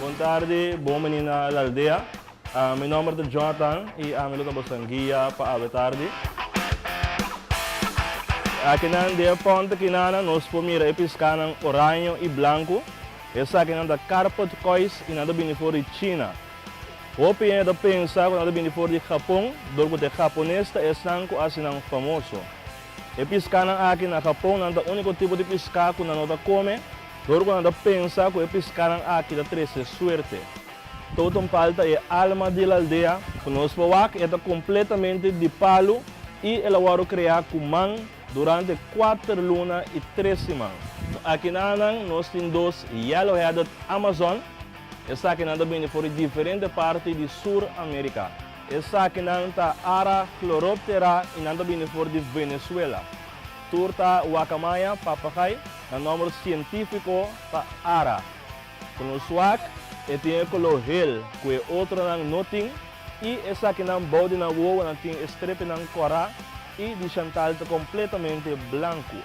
Bon tardi, bon bini na El Aldea. Mi nomber ta Jonathan y ami lo ta boso guia pa awe tardi. Akinan di e ponte akinana nos por mira e piscanan oraño y blanco. Esakinan ta carpet koi's y nan ta bini for di China. Hopi hende ta pensa cu nan ta bini for di Japon dor cu te Japones ta esnan cu hacinan famoso. E piskánan aki na Japon nan ta úniko tipo di piská ku nan no ta kome dor ku nan ta pensa ku e piskánan aki ta trese suerte. Totem pal ta e alma di el aldea. Ku nos por wak e ta kompletamente di palu i el a wòrdu kreá ku man durante kuater luna i tres siman. No akinanan nos tin dos yellow-headed Amazon. Esakinan ta bini for di diferente parti di Sur Amerika. Esakinan ta Ara, Chloroptera y nan ta bini for di Venezuela. Tur ta Wakamaya, Papagay, nan nomber cientifico ta Ara. Cu lo suak, e tin e color hel cu e otronan no tin y esakinan bao di nan wowonan tin e strepinan cora y di Chantal ta completamente blancu.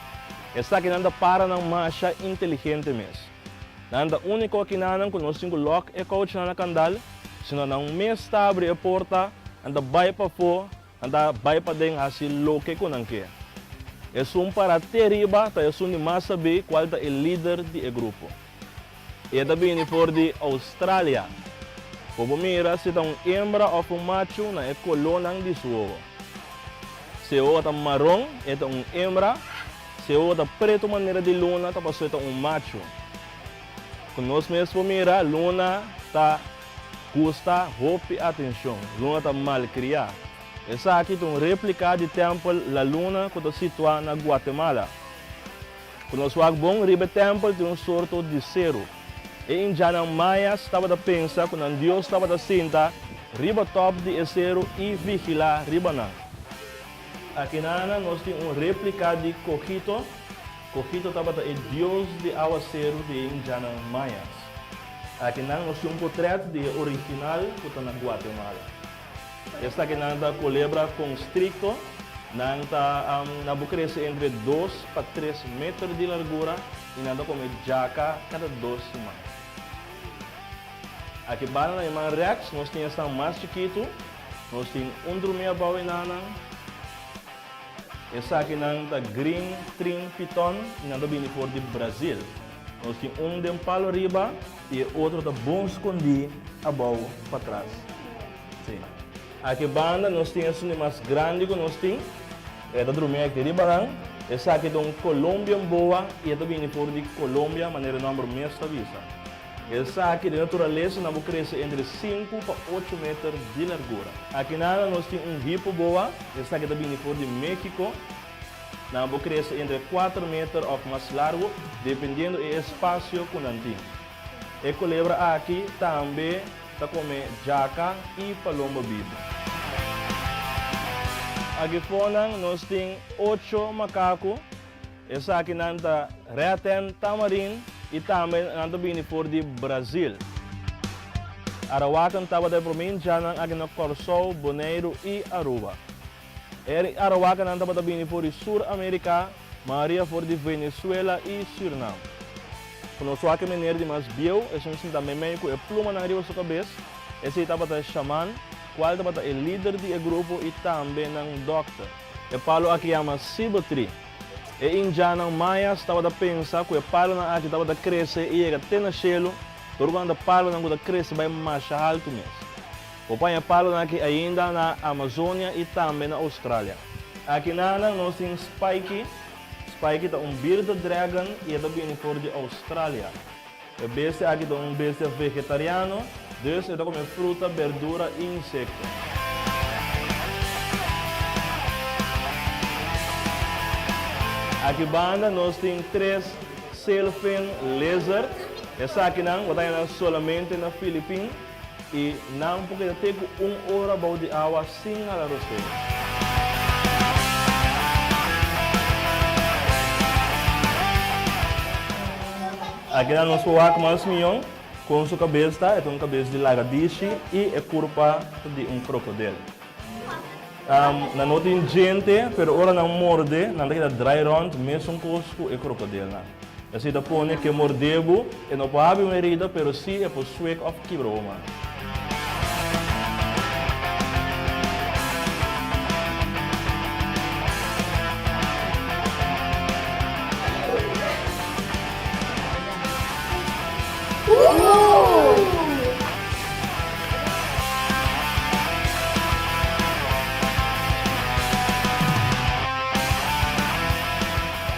Esakinan ta para nan masha inteligente mes. Nan ta úniko aki na nan ku nos tin ku lòk e kouch nan na kandal, sino nan mes ta abri e porta, nan ta bai pafó, nan ta bai paden hasi loke ku nan ke. Esun pará te riba ta esun di mas sabí kual ta e lider di e grupo. E ta bini for di Australia. Por bo mira si ta un hembra òf un machu na e kolónan di su wowo. Si e wowo ta maron, e ta un hembra. Si oga ta pretu manera di luna ta pasobra e ta un machu. Ku nos mes por mira, luna ta gusta hopi atenshon. Luna ta malkriá. Esaki ta un réplika di tèmpel La Luna ku ta situá na Guatemala. Ku nos wak bon riba e tèmpel tin un sorto di seru. E indianan mayas tabata pensa ku nan dios tabata sinta riba tòp di e seru i vigilá riba nan. Akinana nos tin un replica di Cogito. Cogito tabata e dios di awaceru di e indianan Mayas. Aki nan nos tin un potret di e original cu ta na Guatemala. Esaki nan ta Culebra constricto. Nan ta nan por crece entre dos pa tres meter di largura y nan ta come jaca cada dos siman. Aki banda na e man rechts nos tin esnan mas chikitu. Nos tin un drumia bou e nannan. Esakinan ta Green Trin Piton i nan ta bini for di Brazil. Nos tin un den palo riba i e otro ta bon skondí abou patras. Sí. Aki banda nos tin esun di mas grandi ku nos tin. E ta drumia aki riba nan. Esaki ta un Colombian boa i e ta bini for di Colombia, manera e nòmber mes ta bisa. Esaki di naturalesa na bo krese entre sinku pa ocho meter di largura. Akinan a nos tin un hipo boa, esaki ta bini for di Mexico. Nan a bo krese entre kuater meter of mas largo, dependiendo e espacio ku nan tin. E kulebra aki tambe ta kome jaka i palomba bibu. Aki for nan nos tin ocho makaku. Esakinan ta Reten, Tamarin i tambe nan ta bini for di Brazil. Arawakan tabata e provincianan aki na Corsou, Boneiru i Aruba. Er i Arawakanan tabata bini for di Sur America, maoria for di Venezuela i Surinam. Ku nos wak e mener di mas bieu, esun sinta meimei ku e plumanan riba su kabes, esei tabata e shaman, kual tabata e lider di e grupo i tambe nan dòkter. E palu aki yama Sibo Tree. E Indianan Mayas tabata pensa ku e palonan aki tabata krese i yega te na shelu, pero ku nan ta palonan ku ta krese bai masha haltu mes. Bo paña e palonan aki ainda na Amazonia i tambe na Oustralia. Aki nanan nos tin Spikey. Spikey ta un bearded dragon i e ta bini for di Oustralia. E bestia aki ta un bestia vegetariano, dus e ta kume fruta, berdura i insekto. Aki banda nos tin tres sailfin lizard. Esakinan bo ta haya nan solamente na Filipin. I nan por keda te ku un ora bou di awa sin hala rosero. Aki ta nos wak mas mion. Kon su kabes ta? E ta un kabes di lagadishi i e kurpa ta di un krokodel. Nan no tin djente, pero ora nan morde, nan ta keda drai rònt, mesunkos ku e krokodilnan. Esei ta pone ku e mordé bo, e no por habi un erida, pero sí e por swek òf kibra bo man.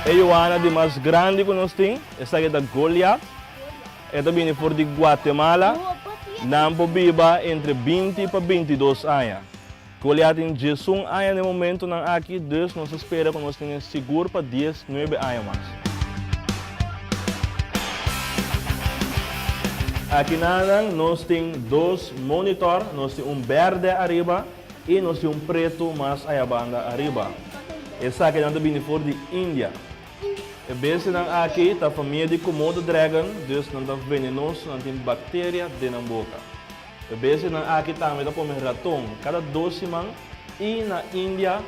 E Yoana di mas grandi ku nos tin, esaki ta Goliat. E ta bini for di Guatemala. Nan por biba entre binti pa binti dos aña. Goliat tin dies un aña den momentonan aki, dus nos a spera ku nos tin e sigur pa dies, nuebe aña mas. Aki nanan nos tin dos monitor, nos tin un bèrdè ariba i nos tin un pretu mas ayabanda ariba. Esakinan ta bini for di India. E bestianan aki ta famia di Komodo dragon, dus nan ta venenoso, nan tin bakteria den nan boka. E besenan aki tambe ta kome raton kada dos siman i na India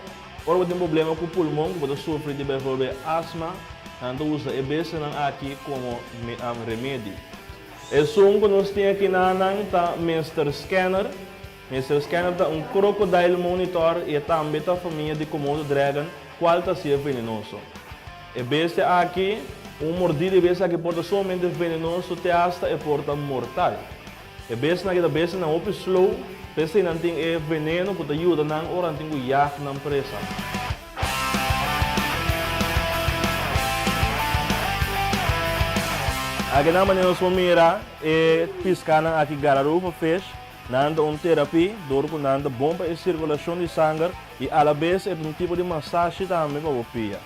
ora bo tin problema ku pulmon ku bo ta sufri di bijvoorbeeld astma nan ta usa e besenan aki komo remedi. Esun ku nos tin aki na nan ta Mister Scanner. Mister Scanner ta un crocodile monitor i e tambe ta famia di Komodo dragon kual ta siye venenoso. E bestia aki, un mordida di e bestia aki por ta sumamente venenoso te hasta e por ta mortal. E besnan keda besnan hopi slow, p'esei nan tin e veneno ku ta yuda nan ora nan tin ku jag nan presa. Aki nan manera nos por mira e piskánan aki Gararufa fish. Nan ta un terapí dor ku nan ta bon pa e sirkulashon di sanger i alabes e ta un tipo di masashi tambe pa bo pia.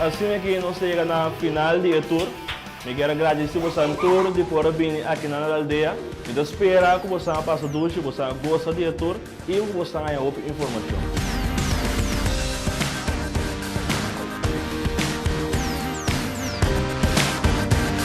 Asina e ki nos ta yega na final di e tur. Mi kier a gradisi bosan tur di por a bini aki na nan aldea. Mi ta spera ku bosan a pasa dushi, bosan a gosa di e tur i ku bosan a haña hopi informashon.